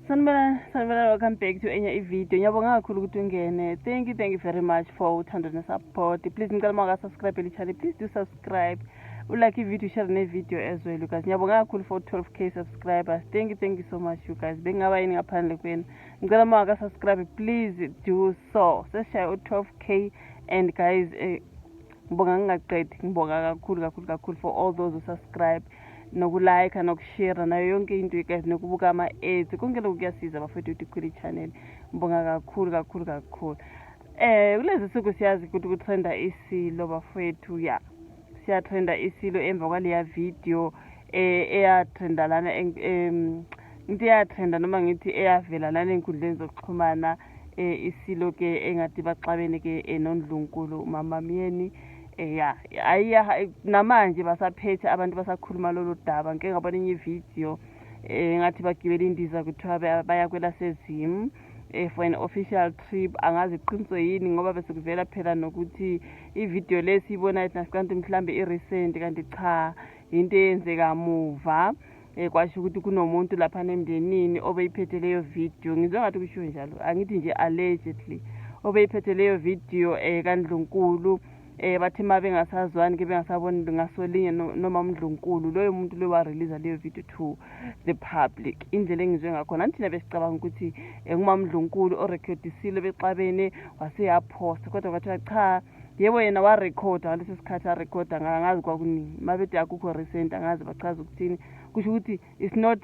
sanibona sanibona welcome back to enye ivideo ngiyabonga kakhulu ukuthi ungene thank you thank you very much for uthando nesupport please ngicela uma ungasubscribe elichane please do subscribe ulike ivideo share nevideo as well you guys ngiyabonga kakhulu for 12 k subscribers thank you thank you so much you guys bengingaba yini ngaphandle kwenu ngicela uma ungasubscribe please do so sesishaya u-12 k and guys eh, ngibonga ngingaqedi ngibonga kakhulu kakhulu kakhulu for all those usubscribe nokulayikha nokushera nayo yonke into guys nokubuka ama-aids konke lokhu kuyasiza bafethu ukuthi khule i-channel ngibonga kakhulu kakhulu kakhulu um kulezi suku siyazi ukuthi kutrenda isilo bafethu ya siyatrenda isilo emva kwaleya video eh, eyatrenda lana into eyatrenda noma ngithi eyavela lana ey'nkundleni zokuxhumana eh isilo ke engathi baxabene ke eh, nondlunkulu mama myeni eh, ya ayiya namanje basaphethe abantu basakhuluma lolu daba ngike ngabona enye ividiyo um eh, ngathi bagibela indiza kuthiwa baya kwelasezim um eh, for an official trip angazi qiniso yini ngoba bese kuvela phela nokuthi ividiyo le siyibona kanti mhlawumbe i-recent kanti cha yinto eyenzeka muva um kwasho ukuthi kunomuntu laphana emndenini obeyiphethe leyo video ngizwe ngathi kushiwo njalo angithi nje allegedly obeyiphethe leyo video um eh, kandlunkulu um eh, bathi uma bengasazwani ke bengasaboni ngasolinye noma umndlunkulu loyo muntu loyo wareleasa leyo video to the public indlela engizwe ngakhona anithina besicabanga ukuthi um eh, ngumamndlunkulu orekhodisile bexabene waseyaphosta kodwa kwathiwa cha yebo yena warekhoda ngaleso sikhathi arekhoda ngazi kwakuningi uma bethi akukho recent angazi bachaza ukuthini kusho ukuthi it's not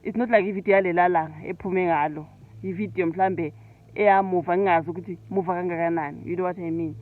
it's not like ividiyo yalela langa ephume ngalo ividiyo mhlawumbe eyamuva ngingazi ukuthi muva kangakanani you know what i mean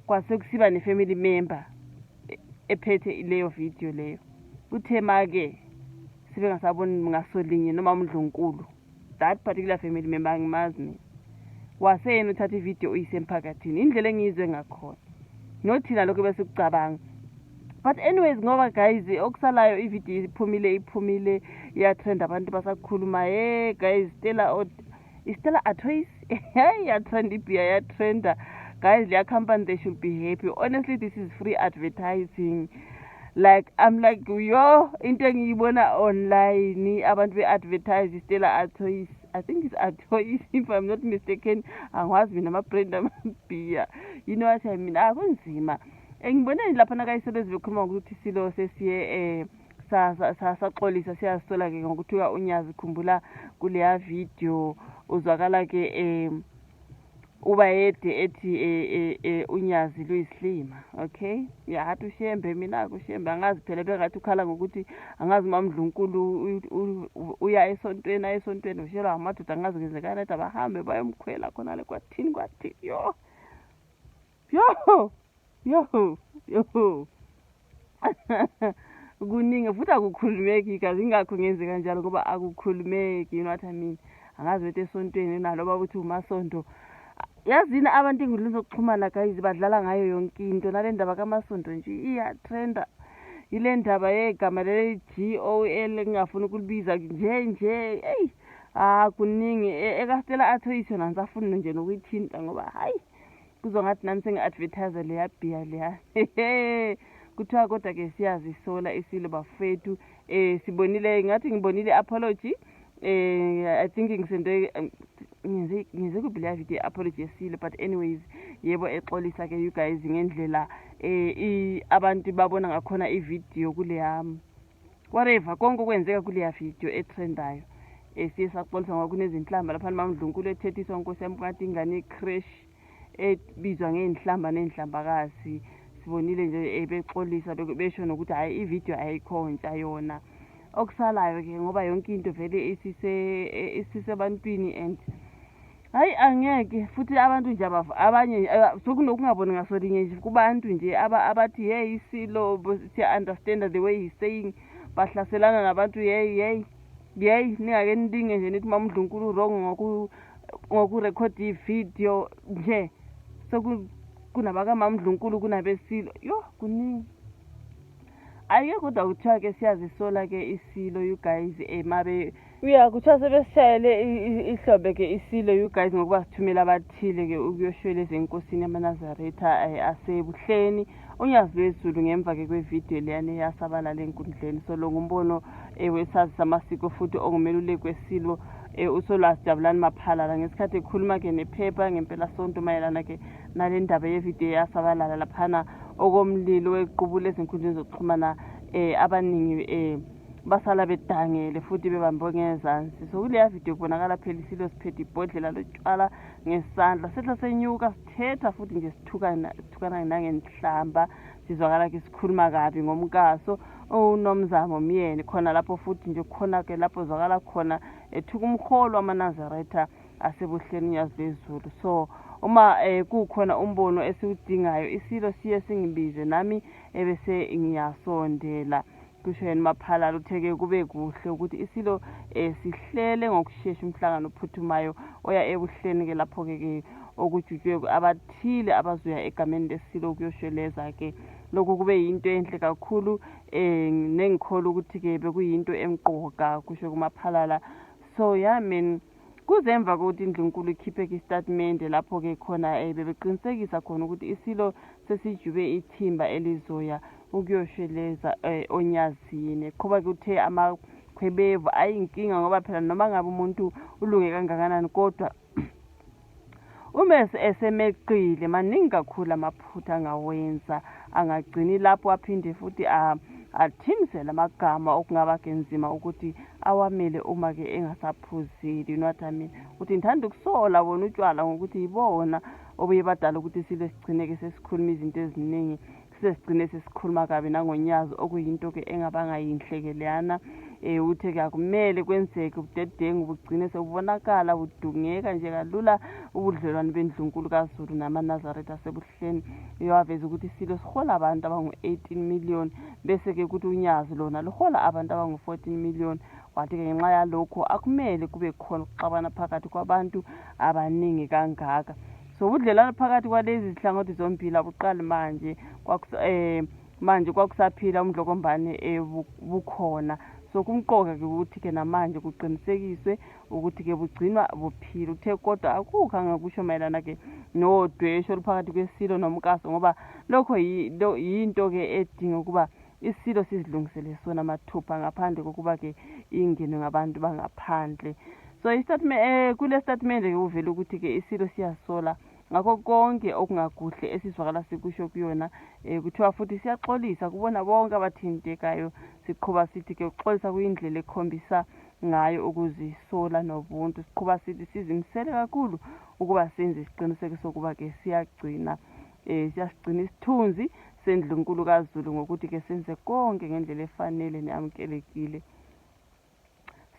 kwase kusiba ne-family member e-, ephethe leyo vidiyo leyo kuthe ma-ke sibe ngasaboni ngasolinye noma umdlunkulu that particular family member angimazi mina waseyena uthatha ividiyo uyise emphakathini indlela engiyizwe ngakhona nothina lokho besikucabanga but anyways ngoba guys okusalayo ividiyo iphumile iphumile iyatrend abantu basakhuluma ye guys stela istela atoys hey yatrend ibia yatrenda guys leya company they should be happy honestly this is free advertising like i'm like yo into engiyibona online abantu be-advertise istela atoys i think it's atoys if i'm not mistaken angiwazi mina ama-brand amabhiya you know what i mean akunzima ah, engiboneni lapha nakayisebenzi bekhuluma ngokuthi silo sesiye eh saxolisa siyazisola ke ngokuthiwa unyazi khumbula kuleya video uzwakala ke um ubayede ethi e, e, e, unyazi luyisilima okay yahathi ushembe mina-ke ushembe angazi phela bengathi ukhala ngokuthi angazi uma mdlunkulu uya esontweni aye esontweni ushelwa amadoda angazi kwenzekani athi abahambe bayomkhwela khona le kwathini kwathini yho Yoho! Yoho! Yoho! Kuningi futhi akukhulumeki kazi ingakho ngenze kanjalo ngoba akukhulumeki you know what I mean. Angazi wethu esontweni nalo baba uthi umasonto. Yazini abantu engudlini zokuxhumana guys badlala ngayo yonke into nale ndaba kamasonto nje iyatrenda. Ile ndaba yegama leli G O L engingafuni ukulibiza nje nje. Hey! Ah kuningi e, ekastela athoyisho nangisafuni nje nokuyithinta ngoba hayi kuzwa ngathi nami sengi-advertise leya bhiya leya kuthiwa kodwa ke siyazisola isilo bafethu eh sibonile ngathi ngibonile apology eh i think ngisento ngize ngize kubhila video apology esile but anyways yebo exolisa ke you guys ngendlela eh abantu babona ngakhona ivideo kule yami whatever konke okwenzeka kuleya video etrendayo um siye saxolisa ngoba kunezinhlamba lapha nimamdlunkulu ethethiswa nkosi yami kade ingane ecrash ebizwa ngey'nhlamba ney'nhlambakazi sibonile nje um bexolisa besho nokuthi hhayi ividiyo ayikho ntsha yona okusalayo-ke ngoba yonke into vele isisebantwini and hayi angeke futhi abantu nje abanye eh, sokunokungaboni ngaso linye nje kubantu nje abathi yeyi isilo siya-understanda the way he's saying bahlaselana nabantu yeyi yeyi yeyi ningake nilinge nje nithi mamudlunkulu wrong ngokurekhodi ividiyo nje sekunabakamamudlunkulu kunabesilo yho kuningi ayike kodwa kuthiwa ke siyazisola ke isilo you guys um abe uya kuthiwa sebesishayele ihlobe ke isilo you guys ngokuba sithumela abathile ke ukuyoshwela ezenkosini yamanazaretha um asebuhleni unyazi lwezulu ngemva ke kwevidiyo leyana eyasabalala enkundleni so lo ngumbono um wesazi samasiko futhi ongumeluleki wesilo um usolwazi jabulani maphalala ngesikhathi ekhuluma ke nephepha ngempelasonto mayelana ke nale ndaba yevidiyo eyasabalala laphana okomlilo wequbula ezinkundleni zokuxhumana um abaningi um basala bedangele futhi bebambe ngezansi so kuleya video kubonakala phela isilo siphethe ibhodlela lotshwala ngesandla sehla senyuka sithetha futhi nje sithukana nangenhlamba sizwakala ke sikhuluma kabi ngomkaso unomzamo myeni khona lapho futhi nje khona-ke lapho zwakala khona ethuka umholo wamanazaretha asebuhleni unyazi lwezulu so uma eh, kukhona umbono esiwudingayo isilo siye singibize nami ebese ngiyasondela kusho yena umaphalala uthe-ke kube kuhle ukuthi isilo eh, sihlele ngokushesha umhlangano ophuthumayo oya ebuhleni-ke lapho-ke ke okujutshwe abathile abazoya egameni lesilo ukuyosheleza-ke lokhu kube yinto enhle kakhulu um nengikholwa ukuthi-ke bekuyinto emqoka kusho kumaphalala so ya yeah, mina Kuze emva kokuthi indlunkulu ikhiphe-ke isitatimende lapho-ke khona um bebeqinisekisa khona ukuthi isilo sesijube ithimba elizoya ukuyosheleza um onyazini qhuba-ke uthe amakhwebevu ayinkinga ngoba phela noma ngabe umuntu ulunge kangakanani kodwa Umese esemeqile maningi kakhulu amaphutha angawenza angagcini lapho aphinde futhi athimisele amagama okungaba kenzima ukuthi awamele uma ke engasaphuzile you know what I mean ukuthi ngithanda ukusola bona utshwala ngokuthi yibona obuye badala ukuthi silwe sigcine ke sesikhuluma izinto eziningi sesigcine sesikhuluma kabi nangonyazi okuyinto ke engabanga yinhle ke leyana um uthe kuyakumele kwenzeke ubudedengu bugcine sebubonakala budungeka nje kalula ubudlelwane bendlunkulu kazulu namanazaretha asebuhleni iyowaveza ukuthi isilo sihola abantu abangu-18 million bese-ke kuthi unyazi lona luhola abantu abangu-14 million wathi-ke ngenxa yalokho akumele kube khona ukuxabana phakathi kwabantu abaningi kangaka so ubudlelwano phakathi kwalezi zihlangothi zombili abuqali manje um manje kwakusaphila umdlokombane eh, bukhona so kumqoka-ke ukuthi-ke namanje kuqinisekiswe ukuthi-ke bugcinwa buphile uthe kodwa akukho angakusho mayelana-ke nodwesho oluphakathi kwesilo nomkaso ngoba lokho yinto-ke edinga ukuba Isilo sizilungisele sona mathupha ngaphandle kokuba ke ingenwe ngabantu bangaphandle so isitatimende eh, kule sitatimende ke kuvela ukuthi ke isilo siyasola ngakho konke okungakuhle esizwakala sikusho kuyona um kuthiwa futhi siyaxolisa kubona bonke abathintekayo siqhuba sithi ke ukuxolisa kuyindlela ekhombisa ngayo ukuzisola nobuntu siqhuba sithi sizimisele kakhulu ukuba senze isiqiniseko sokuba ke siyagcina Eh siyasigcina isithunzi sendlunkulu kaZulu ngokuthi ke senze konke ngendlela efanele neamukelekile.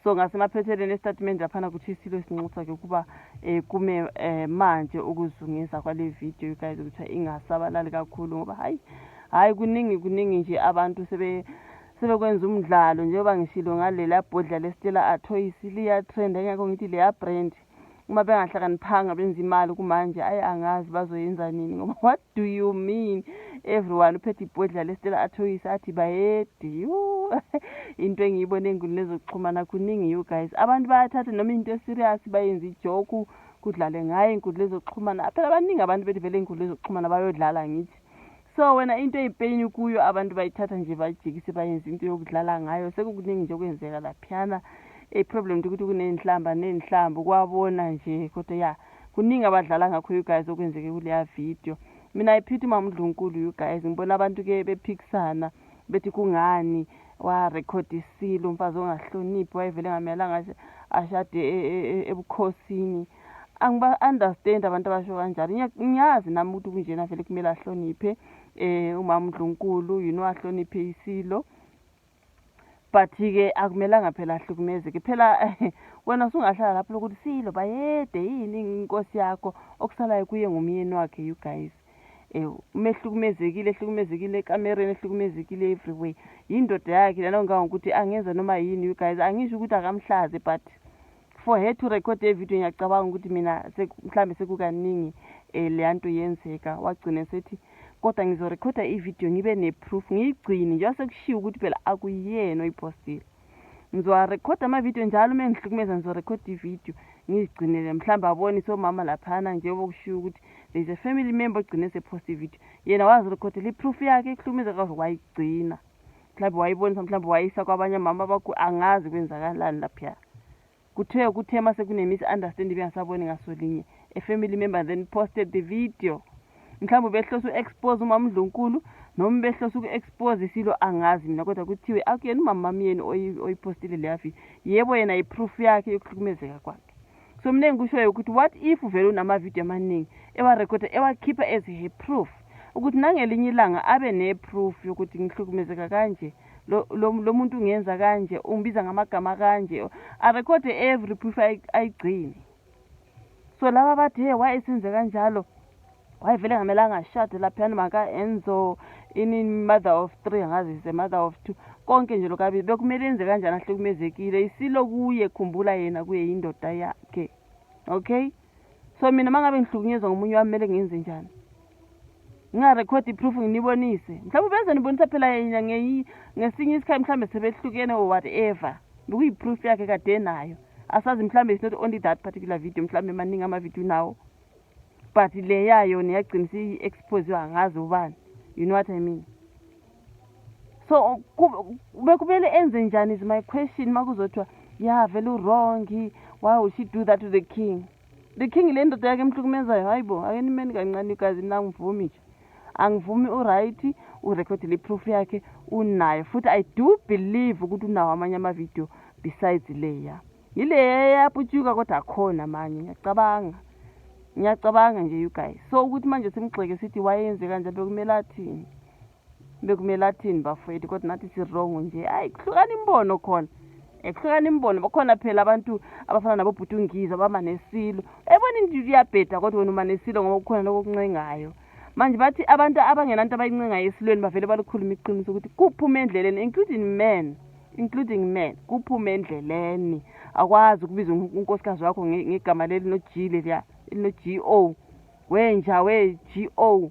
So ngasemaphethelweni estatimende laphana kuthi isilo sinxusa ke ukuba eh kume eh, manje ukuzungeza kwale video you guys ukuthi ingasabalali kakhulu ngoba hayi hayi kuningi kuningi nje abantu sebe sebekwenza umdlalo njengoba ngishilo ngalela bhodla lesitshela athoyisi liyatrend engekho ngithi leya brand uma bengahlakaniphanga benza imali kumanje ayi angazi bazoyenza nini ngoba what do you mean everyone uphethe ibhodla lesitela athoyisa athi bayedi into engiyibona enguni lezokuxhumana kuningi you guys abantu bayathatha noma into eserious bayenza ijoku kudlale ngayo inkundla ezokuxhumana phela baningi abantu bethi vele inkundla ezokuxhumana bayodlala ngithi so wena into eyipeyini kuyo abantu bayithatha nje bayijikise bayenze into yokudlala ngayo sekukuningi nje okwenzeka laphiyana iproblem nje ukuthi kuney'nhlamba ney'nhlambi kwabona nje kodwa ya kuningi abadlala ngakho you guys okwenzeke kuleya video mina iphithi umama udlunkulu you guys ngibona abantu-ke bephikisana bethi kungani warekhodisile umfazi ongahloniphi wayevele ngamele angashade e, e, e, ebukhosini angiba-understand abantu abasho kanjalo ngiyazi nami ukuthi kunjena vele kumele ahloniphe um umama undlunkulu you know ahloniphe isilo but-ke akumelanga phela ahlukumezeke phela wena usungahlala lapho lokuthi silo bayede yini inkosi yakho okusalayo kuye ngumyeni wakhe you guys ewu uma ehlukumezekile ehlukumezekile ekamereni ehlukumezekile everyway yindoda yakhe lena ngangokuthi angenza noma yini you guys angisho ukuthi akamhlaze but for her to record evidiyo ngiyacabanga ukuthi mina mhlawumbe sekukaningi um leya nto yenzeka wagcine sethi kodwa ngizorekhoda ividiyo ngibe neproof ngiyigcine njengoba sekushiwo ukuthi phela akuyena oyiphostile ngizowarekhoda amavidiyo njalo uma engihlukumeza ngizorekhoda ividiyo ngizigcinele mhlawumbe abone somama laphana njengoba kushiwo ukuthi there's a family member ogcine sephosta ividiyo yena wazirekhodela iproof yakhe ekuhlukumeza kaze wayigcina mhlawumbe wayibonisa mhlawumbe wayisa kwabanye mama bakho angazi kwenzakalani laphiya kuthiwe kuthe uma sekune-misunderstanding bengasaboni ngaso linye a family member then posted the video mhlawumbe ubehlose u-expose umama undlunkulu noma ubehlose uku-expose isilo angazi mina kodwa kuthiwe akuyena umama wami yeni oyiphostile leya video yebo yena yiproof yakhe yokuhlukumezeka kwakhe so mna engikushoyo ukuthi what if uvele unamavidiyo amaningi ewarekhoda ewakhipha as her proof ukuthi nangelinye ilanga abe ne-proof yokuthi ngihlukumezeka kanje lo muntu ungenza kanje ungibiza ngamagama kanje arekhode every proof ayigcine so laba bathi he why esenze kanjalo wayevele ngamelanga ashade laphiyani maka-enzo ini mother of three angazi is a mother of two konke nje lokabili bekumele enze kanjani ahlukumezekile isilo kuye khumbula yena kuye yindoda yakhe okay so mina uma ngabe ngihlukunyezwa ngomunye wami kumele ngenze njani ngingarekhodi iproof nginibonise mhlawumbe benze nibonisa phela yena ngesinye isikhathi mhlawumbe sebehlukene or whatever bekuyiproof yakhe kade nayo asazi mhlawumbe is not only that particular video mhlawumbe maningi amavideo nawo but le yayo niyagcina siyi-expose angazi ubani you know what i mean so bekumele enze njani is my question uma kuzothiwa ya vele uwrongi why would she do that to the king the king le ndoda yakhe emhlukumezayo hayi bo ake nimeni kancane igazi mina angivumi nje angivumi uright urekhodile iproof yakhe unayo futhi i do believe ukuthi unawo amanye amavidiyo besides leya yile yaputyuka kodwa akhona manje ngiyacabanga ngiyacabanga nje you guys so ukuthi manje simgxeke sithi wayenze kanje bekumele athini bekumele athini bafowethu kodwa nathi sirongo nje hayi kuhlukana imbono khona ekuhlukana imbono bakhona phela abantu abafana nabobhuti ungiza bama nesilo ebona into iyabheda kodwa wena uma nesilo ngoba kukhona lokho okuncengayo manje bathi abantu abangenanto abayincengayo esilweni bavele balukhuluma iqiniso ukuthi kuphume endleleni including men including men kuphume endleleni akwazi ukubiza unkosikazi wakho ngegama leli no-g leliya elino-g o wenja we-g o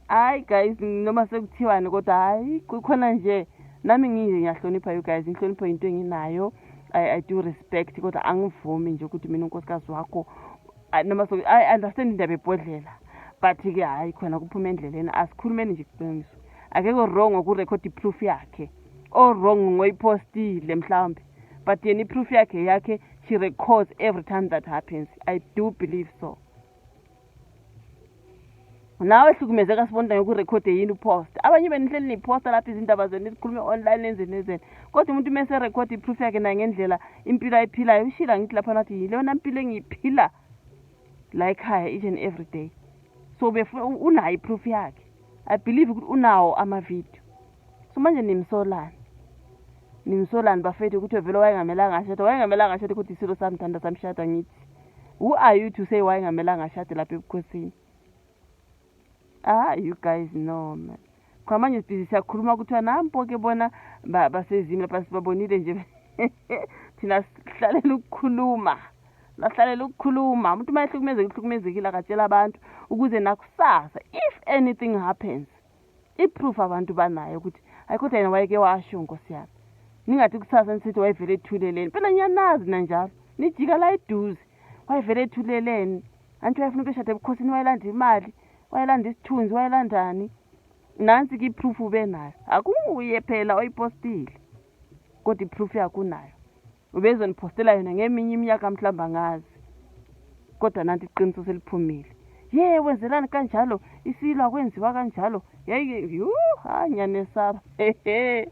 hayi guys noma sekuthiwani kodwa hayi kukhona nje nami nginje ngiyahlonipha you guys inhlonipho yinto enginayo I, i do respect kodwa angivumi nje ukuthi mina unkosikazi wakho noma so i understand indaba ebhodlela but-ke hhayi khona kuphuma endleleni asikhulumeni nje iqiniso akekho wrong okurekhodi iproof yakhe owrong ngoyiphostile mhlawumbe but yena iproof yakhe yakhe she records every time that happens i do believe so nawe hlukumezeka sibonda yokurekhode yini upost abanye benihleli niposta lapho izindaba zenu nizikhulume online nenzeni nenzeni kodwa umuntu uma eserekhode iproof yakhe nangendlela impilo ayiphilayo ushila ngithi lapha nathi yilona mpilo engiyiphila la ekhaya each and every day so befuna unayo iproof yakhe i believe ukuthi unawo amavidiyo so manje nimsolani nimsolani bafethu ukuthi vele wayengamelanga ashada wayengamelanga ashade kodwa isilo samthanda samshada ngithi who are you to say wayengamelanga ashade lapha ebukhosini Ah, you guys know man. Cha manje sibhizi siyakhuluma kuthiwa nampo-ke bona basezimi lapha sibabonile nje thina sihlalela ukukhuluma lahlalela ukukhuluma umuntu uma ehlukumezekile uhlukumezekile akatshela abantu ukuze nakusasa if anything happens iproof abantu banayo ukuthi hayi kodwa yena wayeke washo nkosi yami ningathi kusasa nisithi wayevele ethuleleni phela niyanazi nanjalo nijika la eduze wayevele ethuleleni anti wayefuna ukusho ade ebukhosini wayelanda imali wayelanda isithunzi wayelandani nansi ke iproof ubenayo akunguye phela oyipostile kodwa iproof yakunayo ubezoniphostela yona ngeminye iminyaka mhlawumbe angazi kodwa nanti iqiniso seliphumile ye wenzelani kanjalo isilo akwenziwa kanjalo yayike yhu hayi ngiyanesaba hehe